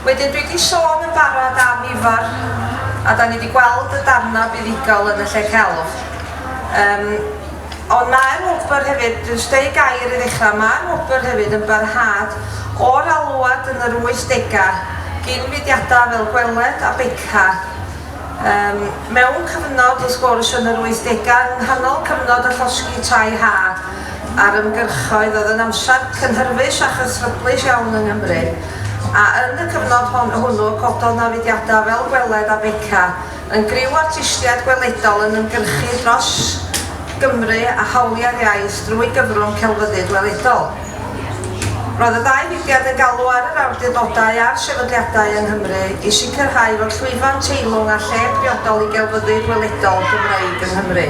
Wedyn dwi wedi sôn yn barod am Ifor a da ni wedi gweld y darnau buddugol yn y lle celf. Um, ond mae'r wobr hefyd, dwi'n steu gair i ddechrau, mae'r wobr hefyd yn barhad o'r alwad yn yr 80au gyn fudiadau fel Gweled a Beca Ym mewn cyfnod o sgwrs yn yr wythdegau, yng nghanol cyfnod y llosgi tai ha a'r ymgyrchoedd, oedd yn amser cynhyrfus a chystryblus iawn yng Nghymru, a yn y cyfnod hon, hwnnw, cododd 'na fudiadau fel Gweled a Beca, yn griw artistiaid gweledol yn ymgyrchu dros Gymru a hawliau'r iaith drwy gyfrwng celfyddyd weledol. Roedd y ddau fudiad yn galw ar yr awdurdodau a'r sefydliadau yng Nghymru i sicrhau fod llwyfan teilwng â lle priodol i gelfyddyd weledol Gymreig yng Nghymru.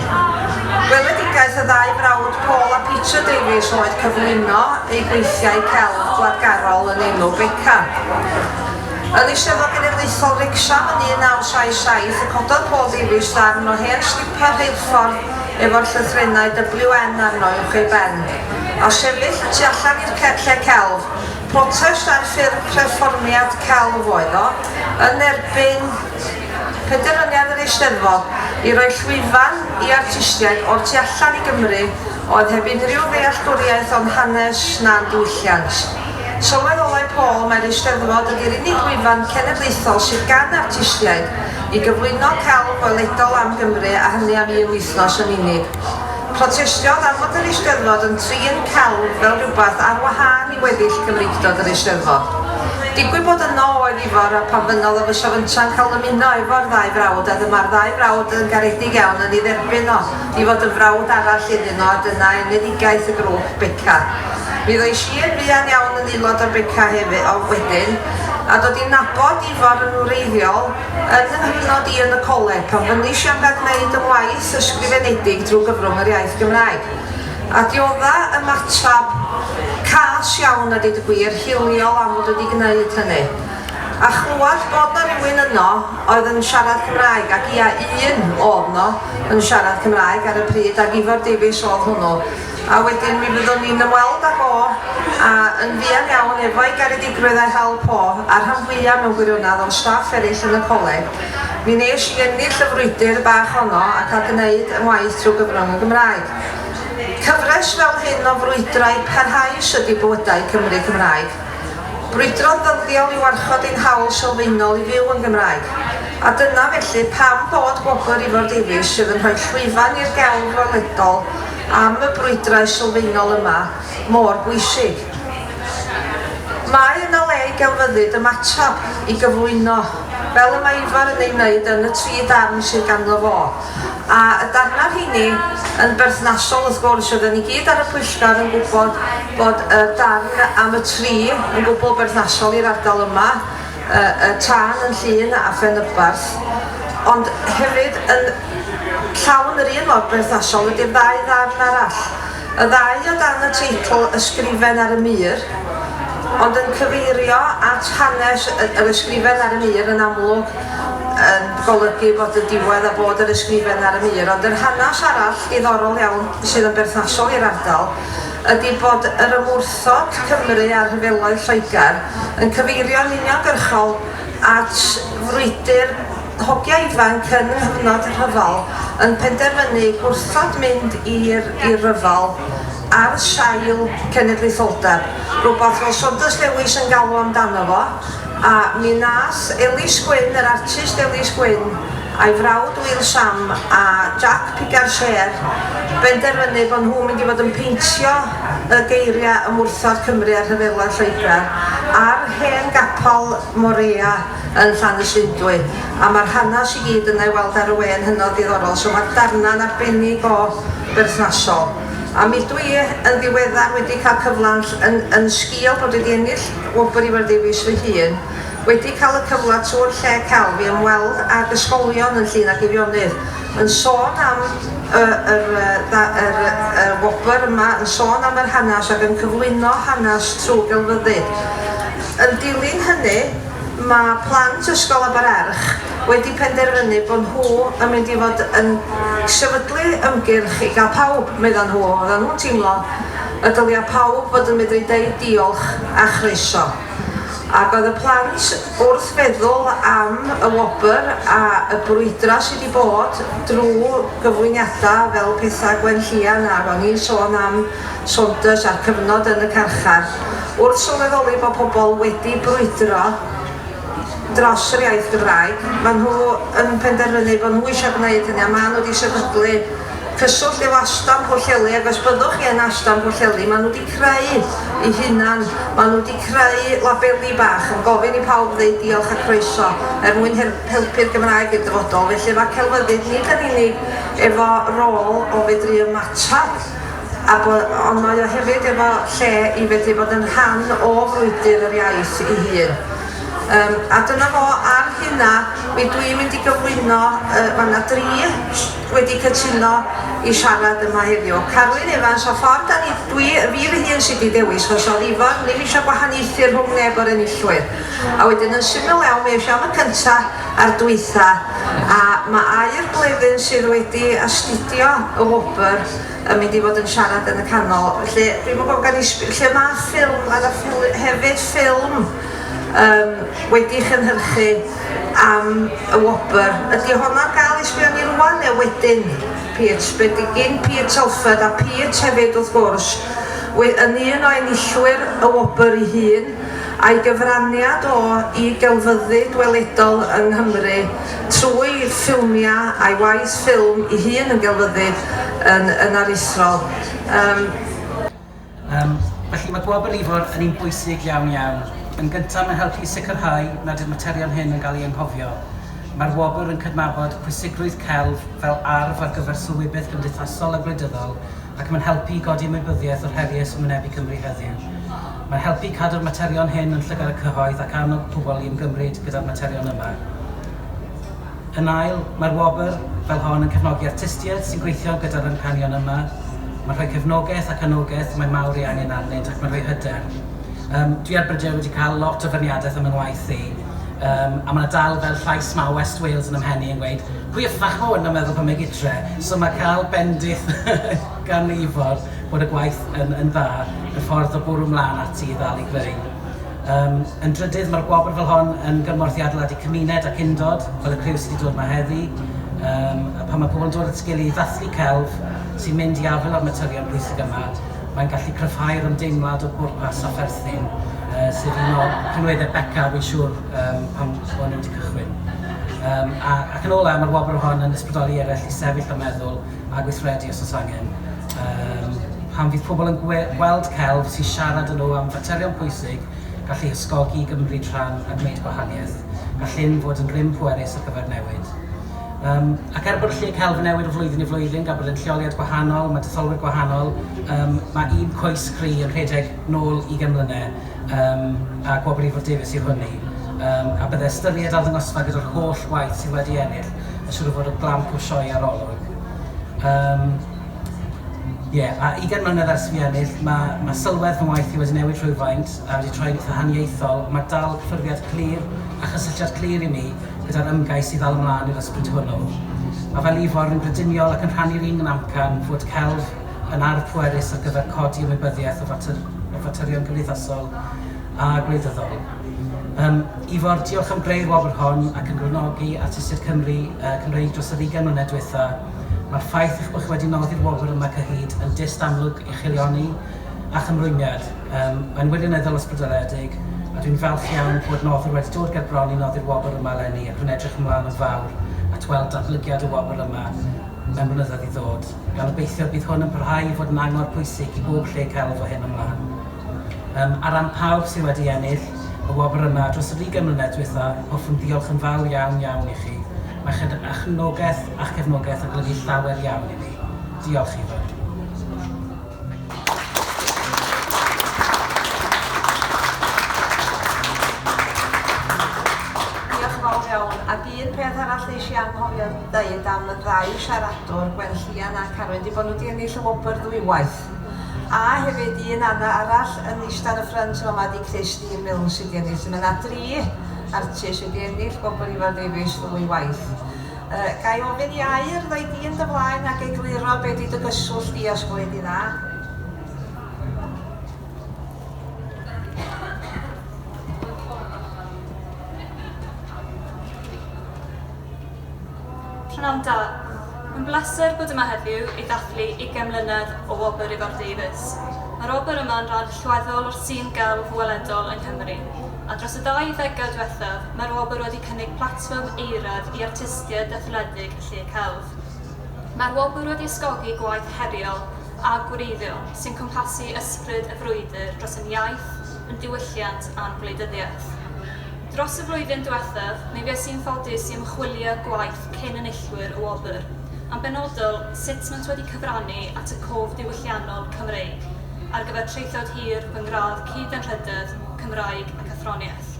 Gweledigaeth y ddau frawd Paul a Peter Davies oedd cyflwyno eu gweithiau celf gwladgarol yn enw Beca. Yn Eisteddfod Genedlaethol Wrecsam yn 1977 y cododd Paul Davies ddarn o hen slipar rheilffordd efo'r llythrennau WN arno uwch ei ben. a sefyll y tu allan i'r lle celf. Protest ar ffurf perfformiad celf oedd o, yn erbyn penderfyniad yr Eisteddfod i roi llwyfan i artistiaid o'r tu allan i Gymru oedd heb unrhyw ddealltwriaeth o'n hanes na'n diwylliant. Sylweddolai Paul mai'r Eisteddfod ydi'r unig lwyfan cenedlaethol sydd gan artistiaid i gyflwyno celf gweledol am Gymru a hynny am un wythnos yn unig. Protestiodd am fod yr Eisteddfod yn trin celf fel rhywbeth ar wahân i weddill Cymreictod yr Eisteddfod. Digwydd bod yno oedd Ifor a phan fynnodd o fysa fynta'n cael ymuno efo'r ddau frawd a dyma'r ddau frawd yn garedig iawn yn ei dderbyn o i fod yn frawd arall iddyn nhw a dyna enedigaeth y grŵp Beca. Mi ddois i yn fuan iawn yn aelod o'r Beca hefyd wedyn a dod i nabod Ifor yn wreiddiol. Yn fy nghyfnod i yn y coleg, gofynnais i am gael gwneud y waith ysgrifenedig drwy gyfrwng yr iaith Gymraeg. Adioddai ymateb cas iawn a deud y gwir, hiliol am fod wedi gwneud hynny. A chlywed bod 'na rywun yno oedd yn siarad Cymraeg, ac ia, un o'dd 'no yn siarad Cymraeg ar y pryd, ac Ifor Davies o'dd hwnnw, A wedyn mi fyddwn ni'n ymweld â Bo, a yn fuan iawn efo'i garedigrwydd a'i hawl Po, a'r rhan fwya', mewn gwirionedd, o'n staff eraill yn y coleg, mi wnes i ennill y frwydr bach honno a cael gneud 'y ngwaith trwy gyfrwng y Gymraeg. Cyfres fel hyn o frwydrau parhaus ydi Bywydau Cymry Cymraeg. Brwydro'n ddyddiol i warchod ein hawl sylfaenol i fyw yn Gymraeg. A dyna, felly, pam bod Gwobr Ifor Davies, sydd yn rhoi llwyfan i'r gelf weledol, am y brwydrau sylfaenol yma mor bwysig. Mae yna le i gelfyddyd ymateb i gyflwyno, fel y mae Ifor yn ei wneud yn y tri darn sydd ganddo fo, a y darnau rheini yn berthnasol wrth gwrs, oedden ni gyd ar y pwyllgor yn gwybod bod y darn am y tri yn gwbl berthnasol i'r ardal yma, y tân yn Llŷn a Phenyberth, ond hefyd yn llawn yr un mor berthnasol ydy'r ddau ddarn arall, y ddau o dan y teitl Ysgrifen ar y Mur, ond yn cyfeirio at hanes yr Ysgrifen ar y Mur yn amlwg yn golygu bod y diwedd a bod yr Ysgrifen ar y Mur, ond yr hanes arall diddorol iawn sydd yn berthnasol i'r ardal, ydi bod yr ymwrthod Cymru â rhyfeloedd Lloegr yn cyfeirio'n uniongyrchol at frwydr hogia ifanc yn nghyfnod y rhyfel yn penderfynu gwrthod mynd i'r i'r rhyfel ar sail cenedlaetholdeb, rhywbeth fel Saunders Lewis yn galw amdano fo, a mi nath Elis Gwyn, yr artist Elis Gwyn, Ei frawd Will Sham a Jack Piganshair benderfynu bod nhw'n mynd i fod yn peintio y geiriau ymwrthod Cymru a rhyfela Lloegr ar hen gapel Morea yn Llanysundwy a mae'r hanes i gyd yna i weld ar y we yn hynod ddiddorol so mae darnau'n arbennig o berthnasol a mi dw i yn ddiweddar wedi cael cyfle yn yn sgil bod wedi ennill wobr Ifor Davies fy hun Wedi cael y cyfle tro yn lle celf i ymweld ag ysgolion yn Llŷn a Geirionydd yn sôn am y yr y yr y wobr yma yn sôn am yr hanes ac yn cyflwyno hanes trwy gelfyddyd. Yn dilyn hynny mae plant ysgol Abererch wedi penderfynu bod nhw yn mynd i fod yn sefydlu ymgyrch i gael pawb, medda nhw, oedda nhw'n teimlo y dylia pawb fod yn medru deud diolch a chroeso. Ac oedd y plant wrth feddwl am y wobr a y brwydra sydd wedi bod drw gyflwyniada fel petha Gwen Llian a ro'n i'n sôn am Saunders a'r cyfnod yn y carchar. Wrth sylweddoli bod pobl wedi brwydro dros yr iaith Gymraeg, ma' nhw yn penderfynu bod nhw eisiau gwneud hynny a ma' nhw wedi sefydlu Cyswllt efo Astan Pwllheli ac os byddwch chi yn Astan Pwllheli maen nhw wedi creu eu hunan, maen nhw wedi creu labeli bach yn gofyn i pawb ddeud diolch a croeso er mwyn helpu'r Gymraeg i'r dyfodol felly efo celfyddyd nid yn unig efo rôl o fedru ymateb a bo, ond mae o hefyd efo lle i fedru bod yn rhan o frwydr yr iaith ei hun. Yym a dyna fo ar hynna mi dw i'n mynd i gyflwyno yy ma' 'na dri wedi cytuno i siarad yma heddiw. Carwyn Evans, o ffordd da ni, dwi, y fi fy hun sy di dewis, chos odd Ifor ddim eisiau gwahaniaethu rhwng neb o'r enillwyr. A wedyn yn syml iawn, mi eisiau am y cynta a'r dwytha, a ma air gledyn sydd wedi astudio y wobr yn mynd i fod yn siarad yn y canol. Felly, dwi'm yn gwybod gan i sb- lle ma ffilm, ma na ffil- hefyd ffilm. Yym, wedi chynhyrchu am y wobr. Ydy hon ar gael i sbio arni rwan neu wedyn? Peach, be di gin Peach Telford a Peach hefyd wrth gwrs, we- yn un o enillwyr y wobr i hun, a'i gyfraniad o i gelfyddyd gweledol yng Nghymru trwy ffilmiau a'i waith ffilm i hun yn gelfyddyd yn yn aruthrol. Yym. Yym, felly mae Gwobr Ifor yn un bwysig iawn iawn. Yn gyntaf, mae'n helpu i sicrhau nad yw'r materion hyn yn cael eu anghofio. Mae'r wobr yn cydnabod pwysigrwydd celf fel arf ar gyfer sylwybyth gymdeithasol a gwleidyddol ac mae'n helpu i godi ymwybyddiaeth o'r heriau sy'n wynebu Cymru heddiw. Mae'n helpu i cadw'r materion hyn yn llygad y cyhoedd ac annog pobl i ymgymryd gyda'r materion yma. Yn ail, mae'r wobr fel hon yn cefnogi artistiaid sy'n gweithio gyda'r amcanion yma, mae'n rhoi cefnogaeth ac anogaeth mae mawr ei angen arnynt ac mae'n rhoi hyder. Yym, dwi ar Brydei'r wedi cael lot o feirniadaeth am fy ngwaith i, yym, a mae 'na dal fel llais mawr West Wales yn 'y mhen i yn gweud, pwy y ffach hwn yn meddwl pan mae gytre? So mae cael bendith gan Ifor bod y gwaith yn yn dda yn ffordd o bwrw 'mlan ati i ddal i greu. Yym, yn drydydd, mae'r gwobr fel hon yn gymorth i adeiladu cymuned ac undod, fel y criw sydd wedi dod yma heddi. Yym, a pan mae pobl yn dod at sgil i ddathlu celf sy'n mynd i afael â'r materion pwysig yma, mae'n gallu cryfhau'r ymdeimlad o bwrpas a pherthyn, yy sydd yn un o rhinweddau Beca, fi'n siŵr, yym, pan o'n i wedi cychwyn. Yym, a, ac yn olau, mae'r wobr hon yn ysbrydoli eraill i sefyll a meddwl, a gweithredu os oes angen. Yym, pan fydd pobl yn gweld celf sy'n siarad â nhw am faterion pwysig, gall eu hysgogi i gymryd rhan a gwneud gwahaniaeth. Gall hyn fod yn grym pwerus ar gyfer newid. Um, ac er bod lle celf yn newid o flwyddyn i flwyddyn, gan bod yn lleoliad gwahanol, mae detholwyr gwahanol, um, mae un coes cry yn rhedeg nôl i gemlynau. Yym, pa gwobrifwr Davies yw hwnnw? Yym, a bydde ystyried arddangosfa gyda'r holl waith sydd wedi ennill yn siŵr o fod o glamp o sioe arolwg. Yym, ie, a ugain mlynedd ers fi ennill, ma' ma' sylwedd fy ngwaith i wedi newid rhywfaint a wedi troi'n eitha' haniaethol, ond ma' dal cyffyrddiad clir a chysylltiad clir i mi gyda'r ymgais i ddal ymlaen i'r ysbryd hwnnw. Ma' fel Ifor, rwy'n brydyniol ac yn rhannu'r un amcan fod celf, yn arf pwerus ar gyfer codi ymwybyddiaeth o faterion cymdeithasol a gwleidyddol. Um, Ifor, diolch am greu'r wobr hon ac yn gwrnogi artistiaid Cymru, uh, Cymreig dros yr 20 mlynedd diwetha. Mae'r ffaith eich bod chi wedi noddi'r wobr yma cyhyd yn dyst amlwg i chilioni a chymrwymiad. Um, mae'n wirioneddol ysbrydoledig a dwi'n falch iawn bod noddwr wedi dod ger bron i noddi'r wobr yma lenni ac rwy'n edrych ymlaen yn fawr at weld datblygiad y wobr yma mewn blynyddoedd i ddod. a gobeithio bydd hwn yn parhau i fod yn angor pwysig i bob lle celf o hyn ymlaen. Um, ar ran pawb sydd wedi ennill y wobr yma dros yr 20 mlynedd diwetha, hoffwn ddiolch yn fawr iawn iawn i chi. Mae chyd a chefnogaeth a'ch cefnogaeth yn golygu llawer iawn i mi. Diolch i fawr. Un peth arall nes i anghofio ddeud am y ddau siaradwr, Gwenllian a Carwyn, 'di bod nhw 'di ennill y wobr ddwywaith. A hefyd un ana- arall yn ista ar y ffrynt yn fama ydi Christine Milne sy 'di ennill. Mae 'na dri artist wedi ennill gwobr Ifor Davies ddwy waith. Yy, ga i ofyn i Aur ddoi di yn dy flaen ac egluro be' 'di dy gyswllt di â Sbwyd i Dda? Pnawn da. Mae'n bleser bod yma heddiw i ddathlu ugain mlynedd o Wobr Ifor Davies. Mae'r wobr yma yn ran allweddol o'r sîn gelf weledol yng Nghymru, a dros y ddau ddegawd dwethaf mae'r wobr wedi cynnig platfform eiraidd i artistiaid etholedig y lle celf. Mae'r wobr wedi ysgogi gwaith heriol a gwreiddiol sy'n cwmpasu ysbryd y frwydr dros ein iaith, yn ddiwylliant a'n gwleidyddiaeth. Dros y flwyddyn diwethaf, mi fues i'n ffodus i ymchwilio gwaith cyn enillwyr y wobr, yn benodol sut maent wedi cyfrannu at y cof diwylliannol Cymreig ar gyfer traethawd hir fy ngradd Cyd-anrhydedd, Cymraeg ac Athroniaeth.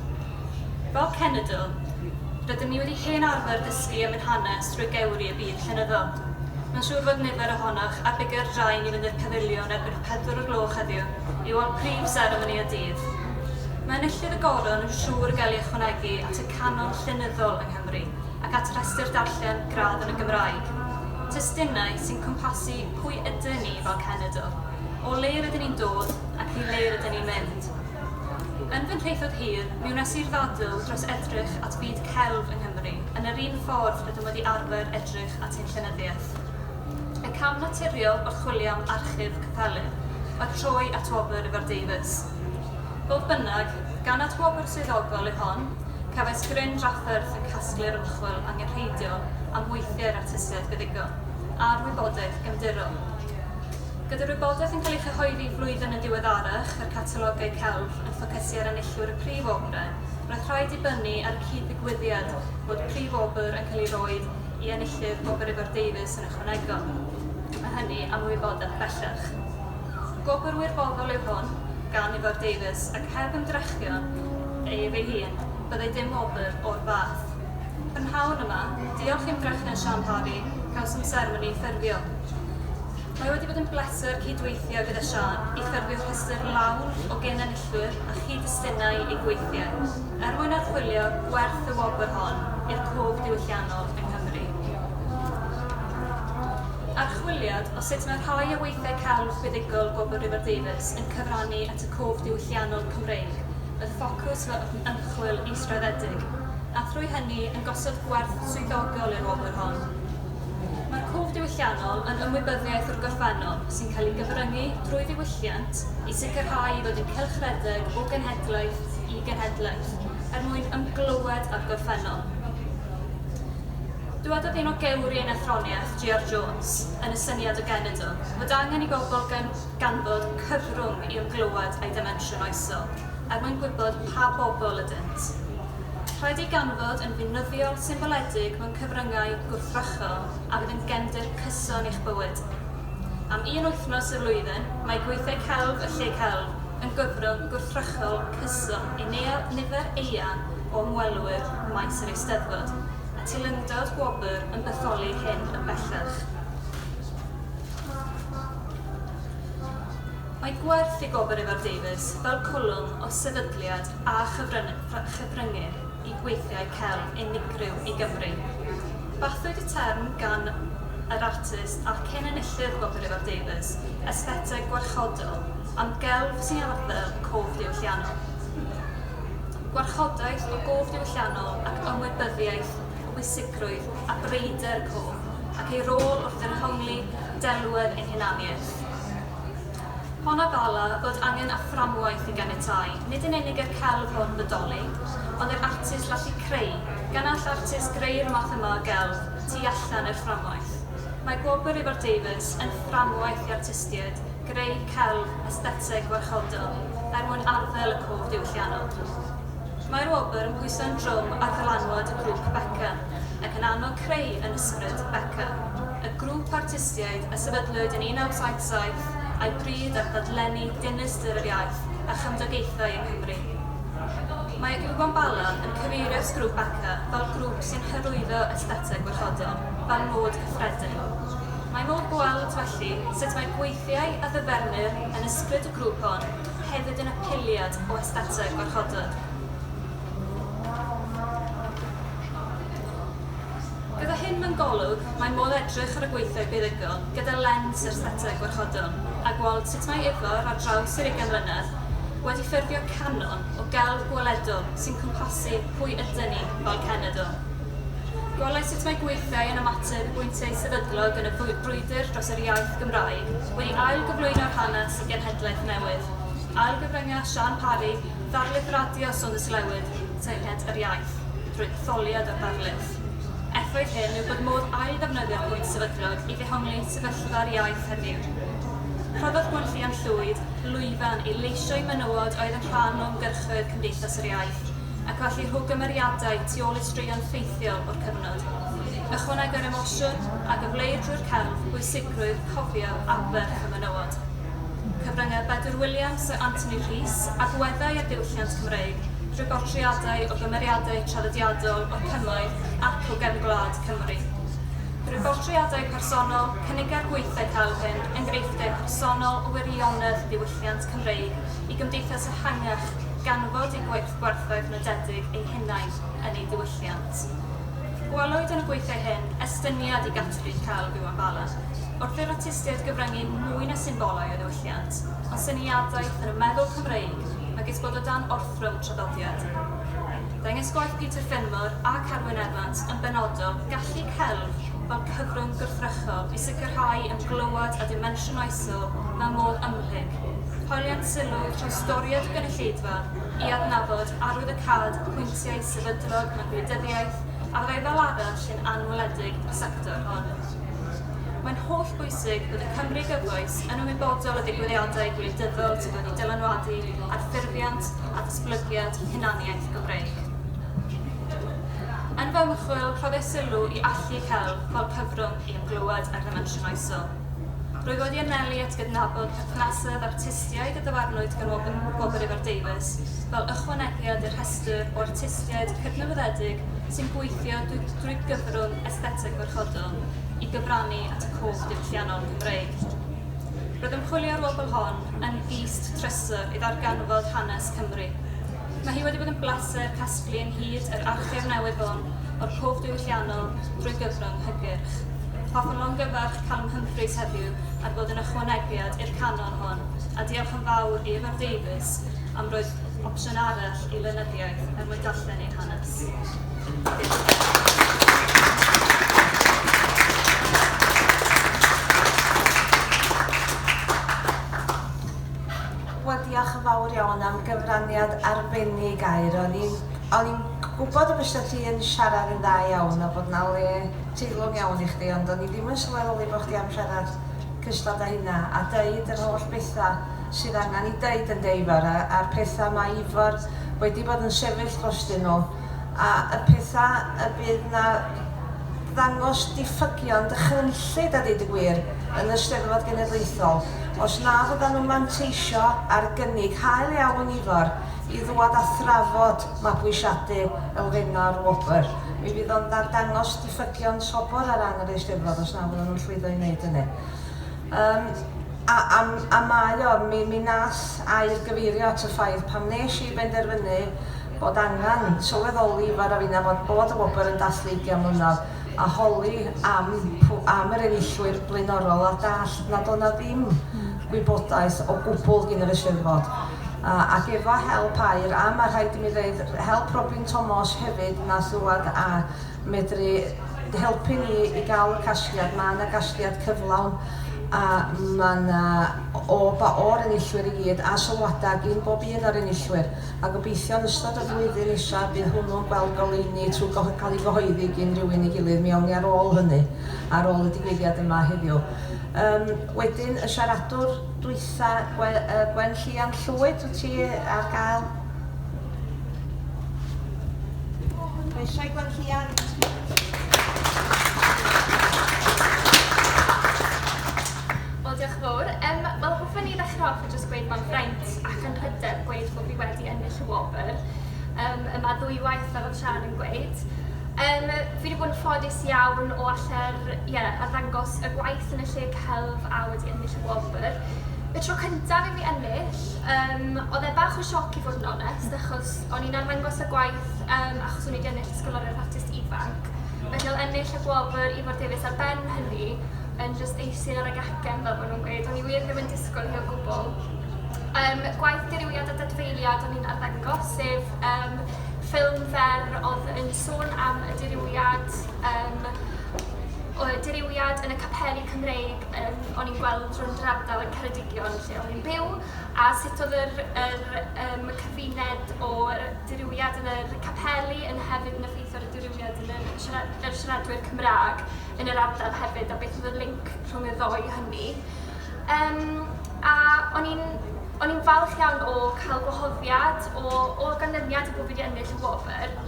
Fel cenedl, rydym ni wedi hen arfer dysgu am ein hanes drwy gewri y byd llenyddol. Mae'n siŵr fod nifer ohonoch ar bigo'r drain i fynd i'r Pafiliwn erbyn hon. pedwar o gloch heddiw, yw o'r prif seremoni y dydd. Mae enillydd y goron yn siŵr o gael ei ychwanegu at y canon llenyddol yng Nghymru ac at restr darllen gradd yn y Gymraeg. Testunau sy'n cwmpasu pwy ydyn ni fel cenedl, o le rydyn ni'n dod ac i le rydyn ni'n mynd. Yn fy nhraethawd hir, mi wnes i'r ddadl dros edrych at fyd celf yng Nghymru yn yr un ffordd rydym wedi arfer edrych at ein llenyddiaeth. Y cam naturiol o chwilio am archif capelyn oedd trwy atwobr Ifor Davies. Fodd bynnag, gan atwobr swyddogol yw hon, cefais gryn drafferth yn casglu'r ymchwil angenrheidiol am weithiau'r artistiaid feddygon, a'r wybodaeth gefndirol. Gyda'r wybodaeth yn cael ei chyhoeddi flwyddyn yn ddiweddarach, a'r catalogau celf yn ffocysu ar enillwyr y prif obrau, roedd rhaid dibynnu ar y cyd-ddigwyddiad fod prif wobr yn cael ei roi i enillydd Gwobr Ifor Davies yn ychwanegol, a hynny am wybodaeth bellach. Gwobr wirfoddol yw hwn gan Ifor Davies ac heb ymdrechion ef ei hun, byddai dim wobr o'r fath. Prynhawn yma, diolch i ymdrechion Siân Parry, cawsom seremoni ffurfio. Mae wedi bod yn bleser cyd-weithio gyda Siân i ffurfio rhestr lawn o gyn-enillwyr cysylltwyr a chyd-destunau eu gweithiau er mwyn archwilio gwerth y wobr hon i'r cof diwylliannol yng Nghymru. Archwiliad o sut mae rhai o weithiau celf buddugol Gwobr Rhywbeth Davies yn cyfrannu at y cof diwylliannol Cymreig oedd ffocws fy ymchwil israddedig, a thrwy hynny yn gosod gwerth swyddogol i'r wobr hon. Mae'r cwf diwylliannol yn ymwybyddiaeth o'r gorffennol sy'n cael ei gyfryngu drwy ddiwylliant i sicrhau ei fod yn cylchredeg o genhedlaeth i genhedlaeth er mwyn ymglywed â'r gorffennol. Dywedodd un o gewri ein athroniaeth, GR Jones, yn y syniad o genedl, fod angen i bobl ganfod cyfrwng i ymglywed â'i ddimensiwn oesol er mwyn gwybod pa bobl ydynt. Rhaid ei ganfod yn fynyddio symboledig mewn cyfryngau gwrthrychol a fydd yn gefndir cyson i'ch bywyd. Am un wythnos y flwyddyn, mae gweithiau celf y Lle Celf yn gyfrwng gwrthrychol cyson i nifer eang o ymwelwyr maes yr Eisteddfod, a teilyngdod gwobr yn bytholi hyn yn bellach. Mae gwerth i Gwobr Ifor Davies fel cwlwm o sefydliad a chyfryngau. Cydryngyr i gweithiau celf unigryw i Gymru. Bathiwyd y term gan yr artist a cyn-enillydd Gwobr Ifor Davies, Esthetig Gwarchodol, am gelf sy'n arddel cof diwylliannol. Gwarchodaeth o gof diwylliannol ac ymwybyddiaeth o bwysigrwydd a breuder cof ac ei rôl wrth ddehongli delwedd ein hunaniaeth. Hon a Bala fod angen a fframwaith i ganiatáu nid yn unig i'r celf hwn fodoli, ond i'r artist lallu creu, gan all artist greu'r math yma o gelf tu allan i'r fframwaith. Mae Gwobr Ifor Davies yn fframwaith i artistiaid greu celf estheteg warchodol er mwyn arddel y cof diwylliannol. Mae'r wobr yn pwyso'n drwm ar ddylanwad y grŵp Beca, ac yn annog creu yn ysbryd Beca, y grŵp artistiaid a sefydlwyd yn 1970. saith, a'i bryd ar ddadlenni dinistr yr iaith a chymdogaethau yng Nghymru. Mae Ubon Bala yn cyfeirio'r grŵp ACCA fel grŵp sy'n hyrwyddo estheteg warchodol fel nod cyffredin. Mae modd gweld, felly, sut mae gweithiau a ddyfernir yn ysbryd y grŵp hon hefyd yn apeliad o estheteg warchodol. Gyda hyn mewn golwg, mae modd edrych ar y gweithiau buddugol gyda lens yr aesthetic warchodol a gweld sut mae Ifor, ar draws yr ugain mlynedd, wedi ffurfio canon o gelf gweledol sy'n cwmpasu pwy ydyn ni fel cenedl. Gwelais sut mae gweithiau yn ymateb i bwyntiau sefydlog yn y brwydr dros yr iaith Gymraeg wedi ail-gyflwyno'r hanes i genhedlaeth newydd, ailgyfrynga Siân Parri, ddarlith radio Saunders Llywydd, teyrnged yr iaith. drwy etholiad a darlith. Effaith hyn yw bod modd ail-ddefnyddio pwynt sefydlog i ddehongli sefyllfa'r iaith heddiw. Rhoddodd Gwenllian Llwyd lwyfan i leisio i menywod oedd yn rhan o ymgyrchoedd Cymdeithas yr Iaith, ac felly rho gymeriadau tu ôl i straeon ffeithiol o'r cyfnod. Ychwanega'r emosiwn a gyfleir drwy'r celf bwysigrwydd cofio aberth y menywod. cyfryngau Bedwyr Williams, Syr Anthony Rhys, agweddau a diwylliant Cymreig, drwy bortreadau o gymeriadau traddodiadol o'r Cymoedd ac o gefn gwlad Cymru. Drwy bortreadau personol, cynigai'r gweithdai celf hyn enghreifftiau personol o wirionedd ddiwylliant Cymreig i gymdeithas ehangach gan fod eu gwerthoedd nodedig eu hunain yn eu diwylliant. Gwelwyd yn y gweithdai hyn estyniad i gategori celf Iwan Bala. Wrth i'r artistiaid gyfryngu mwy na symbolau o ddiwylliant, o syniadaeth yn y meddwl Cymreig megis bod o dan orthrwm traddodiad. Dengys gwaith Peter Fenmore a Carwyn Evans yn benodol gallu celf fel cyfrwng gwrthrychol i sicrhau ymglywed â dimensiwn oesol mewn modd ymhlyg, hoeliant sylw trawstoriad y gynulleidfa i adnabod arwyddocâd pwyntiau sefydlog mewn gwleidyddiaeth a fyddai fel arall yn anweledig i'r sector hon. Mae'n hollbwysig bod y Cymry gyfoes yn ymwybodol o ddigwyddiadau gwleidyddol sydd wedi dylanwadu ar ffurfiant a datblygiad hunaniaeth y Gymreig. Yn fy ymchwil, rhoddais sylw i allu celf fel cyfrwng i ymglywed â'r ddimensiwn oesol. Rwyf wedi anelu at gydnabod perthnasoedd artistiaid y dyfarnwyd gan Wobr, Wobr Ifor Davies fel ychwanegiad i'r rhestr o artistiaid cydnabyddedig sy'n gweithio drwy gyfrwng aesthetig Chwedl i gyfrannu at y cwch diwylliannol Gymreig. Roedd ymchwilio'r wobl hon yn gist trysor i ddarganfod hanes Cymru. Mae hi wedi bod yn blaser casglu ynghyd yr archif newydd hwn o'r cwch diwylliannol drwy gyfrwng hygyrch. Hoffwn longyfarch Calum Humphreys heddiw ar fod yn ychwanegiad i'r canon hwn, a diolch yn fawr i Ifor Davies am roi'r opsiwn arall i lenyddiaeth er mwyn darllen ein Wel, diolch yn fawr iawn am gyfraniad arbennig Aur. O'n i'n... o'n i'n gwybod y bysa ti yn siarad yn dda iawn a bod 'na le teilwng iawn i chdi, ond o'n i ddim yn sylweddoli bo' chdi am siarad cystal da hynna a deud yr holl betha. sydd angen i Dei dan Dei fara a'r pethau mae Ifor wedi bod yn sefyll drostyn nhw a y pethau y bydd na ddangos diffygion dychrynllyd a deud y gwir yn y Steddfod Genedlaethol os na fyddan nhw'n manteisio ar gynnig hael iawn Ifor i ddwad a thrafod mabwysiadu elfennau'r wobr mi fydd o'n ddarddangos diffygion sobor ar ran yr Eisteddfod os na fyddan nhw'n llwyddo i wneud hynny. Yym, a, a, a mae o, mi, mi wnaeth Air gyfeirio at y ffaith, pan wnes i benderfynu bod angen sylweddoli fod raid i na fod bod y wobr yn dathlu ugian mlynedd, a holi am pw- am yr enillwyr blaenorol, a dallt nad oedd 'na ddim gwybodaeth o gwbl gin yr Eisteddfod. A, ac efo help Air, a ma' rhaid i mi ddeud, help Robin Tomos hefyd, wnaeth ddŵad a medru helpu ni i gael y casgliad. Mae yna gasgliad cyflawn a mae yna o ba o'r enillwyr i gyd a sylwadau gyn bob un o'r enillwyr. A gobeithio yn ystod y flwyddyn nesaf bydd hwnnw'n gweld goleuni trwy cael ei gyhoeddi gyn rhywun ei gilydd, mi awn ni ar ôl hynny, ar ôl y digwyddiad yma heddiw. Um, wedyn, y siaradwr dwytha, Gwen Llian Llwyd, wyt ti ar gael? Mae eisiau gweld Llian. Wel, diolch yn fawr. Um, Wel, hoffwn ni ddechrau off yn jyst gweud mae'n fraint ac yn hyder gweud bod fi wedi ennill y wobr um, yma ddwywaith fel oedd Sian yn gweud. Um, fi wedi bod yn ffodus iawn o allu'r, yeah, arddangos y gwaith yn y lle celf a wedi ennill y wobr. Y tro cyntaf i fi ennill, Yym, oedd e bach o sioc i fod yn onest, achos o'n i'n arddangos y gwaith yym achos o'n i 'di ennill Ysgoloriaeth Artist Ifanc, felly oedd ennill y gwobr Ifor Davies ar ben hynny yn jyst eistedd ar y gacen fel maen nhw'n gweud, o'n i wir ddim yn disgwyl hi o gwbl. Yym, gwaith dirywiad a dadfeiliad o'n i'n arddangos, sef yym ffilm fer oedd yn sôn am y dirywiad yym o dirywiad yn y capeli Cymreig yym o'n i'n gweld drwy'r ardal yn Ceredigion. lle o'n i'n byw a sut oedd yr yr yym y cyfuned o'r dirywiad yn yr capeli yn hefyd yn effeithio ar y dirywiad yn yr siara- yr siaradwyr Cymraeg yn yr ardal hefyd a beth oedd y link rhwng y ddou hynny. Yym a o'n i'n o'n i'n falch iawn o cael gwahoddiad o o ganlyniad i bod fi wedi ennill y wobr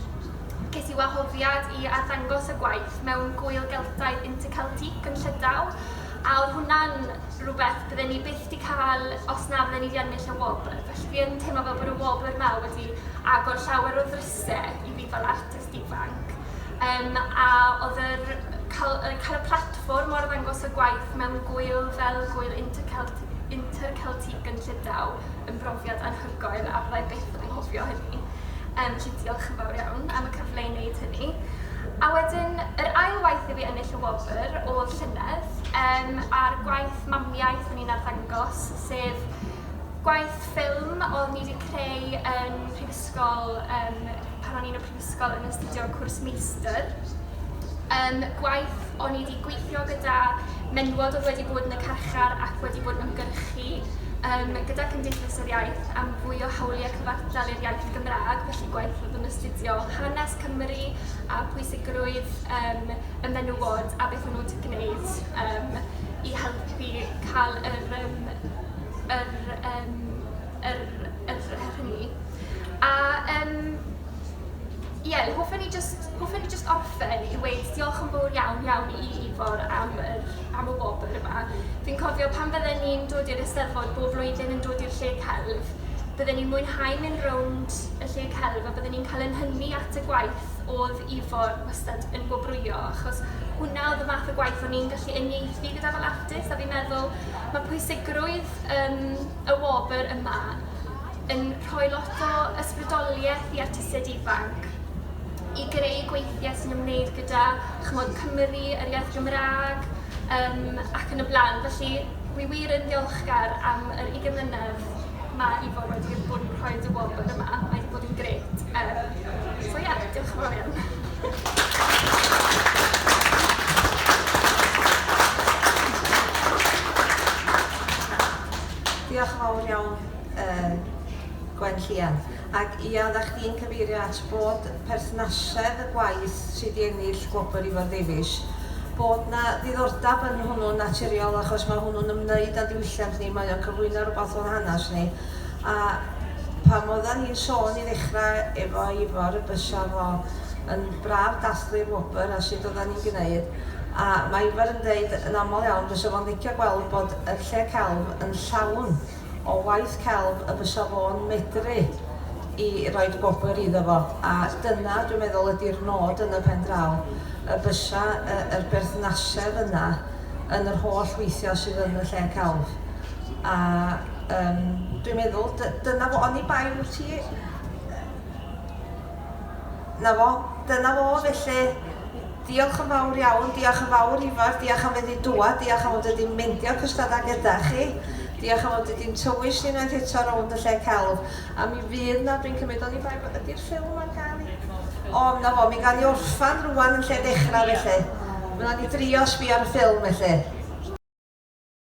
ces i wahoddiad i arddangos y gwaith mewn Gŵyl Geltaidd Interceltique yn Llydaw a oedd hwnna'n rhywbeth bydden ni byth 'di cael os na fydden ni 'di ennill y wobr. Felly fi yn teimlo fel bod y wobr 'ma wedi agor llawer o ddrysau i fi fel artist ifanc. Um, a oedd yr, cael, cael y platfform o arddangos y gwaith mewn gwyl fel gwyl Intercelt, Interceltique yn Llydaw yn brofiad anhygoel a fyddai byth yn anghofio hynny. Um, felly diolch yn fawr iawn am y cyfle i wneud hynny. A wedyn, yr ail waith i fi ennill y wobr oedd llynedd, Yym, a'r gwaith mamiaith o'n i'n arddangos, sef gwaith ffilm oedd ni wedi creu yn prifysgol yym pan o'n i'n y prifysgol yn astudio cwrs meistr. Yym, gwaith o'n i wedi gweithio gyda menywod oedd wedi bod yn y carchar ac wedi bod yn ymgyrchu yym gyda Cymdeithas yr Iaith am fwy o hawliau cyfartal i'r iaith Gymraeg, felly gwaith oedd yn astudio hanes Cymru a pwysigrwydd yym y menywod a beth maen nhw 'di gwneud yym i helpu cael yr yym yr yym yr yr her hynny. A yym ie, hoffen ni jyst hoffen ni jyst orffen i weud diolch yn fawr iawn iawn i Ifor am yr am y wobr yma. Fi'n cofio pan fydden ni'n dod i'r Eisteddfod bob blwyddyn yn dod i'r Lle Celf, bydden ni'n mwynhau mynd rownd y Lle Celf a bydden ni'n cael ein hynni at y gwaith oedd Ifor wastad yn gwobrwyo achos hwnna oedd y fath o gwaith o'n i'n gallu uniaethu gyda fel artist a fi'n meddwl mae pwysigrwydd um, y wobr yma yn rhoi lot o ysbrydoliaeth i artistiaid ifanc i greu gweithiau sy'n ymwneud gyda chymod Cymru, yr iaith Gymraeg um, ac yn y blaen. Felly, wi wir yn ddiolchgar am yr 20 mlynedd mae Ifor wedi bod yn rhoi dy wobr yma. Mae wedi bod yn gret. Um, So ie, yeah, diolch yn fawr iawn. Diolch yn fawr iawn, uh, Gwen Llian. Ac ia, ddech chi'n cyfeirio at bod perthnasedd y gwaith sydd wedi ennill gwobr Ifor Davies, bod na ddiddordeb yn hwnnw'n naturiol achos mae hwnnw'n ymwneud â diwylliant ni, mae o'n cyflwyno rhywbeth o'n hanes ni, A pam odda ni'n sôn i ddechra efo Ifor y bysa fo yn braf dathlu'r wobr a sud odda ni'n gneud a ma' Ifor yn deud yn aml iawn bysa fo'n licio gweld bod y lle celf yn llawn o waith celf y bysa fo'n medru i roid gwobr iddo fo a dyna dwi'n meddwl ydi'r nod yn y pen draw y bysa y yr berthnasedd yna yn yr holl weithia sydd yn y lle celf a Yym, dwi'n meddwl, dy- dyna fo, oni bai wyt ti. 'na fo, dyna fo, felly diolch yn fawr iawn, diolch yn fawr Ifar, diolch am feddu dŵad, diolch am fod wedi'n meindio cystadau gyda chi, diolch am fod wedi'n tywys ni unwaith eto rownd y lle celf, a mi fydd na, dwi'n cymryd o'n i bai, ydy'r ffilm ar gael i? O, na fo, mi gael i orffan rwan yn lle dechrau felly. Wna ni drio sbio ar y ffilm felly.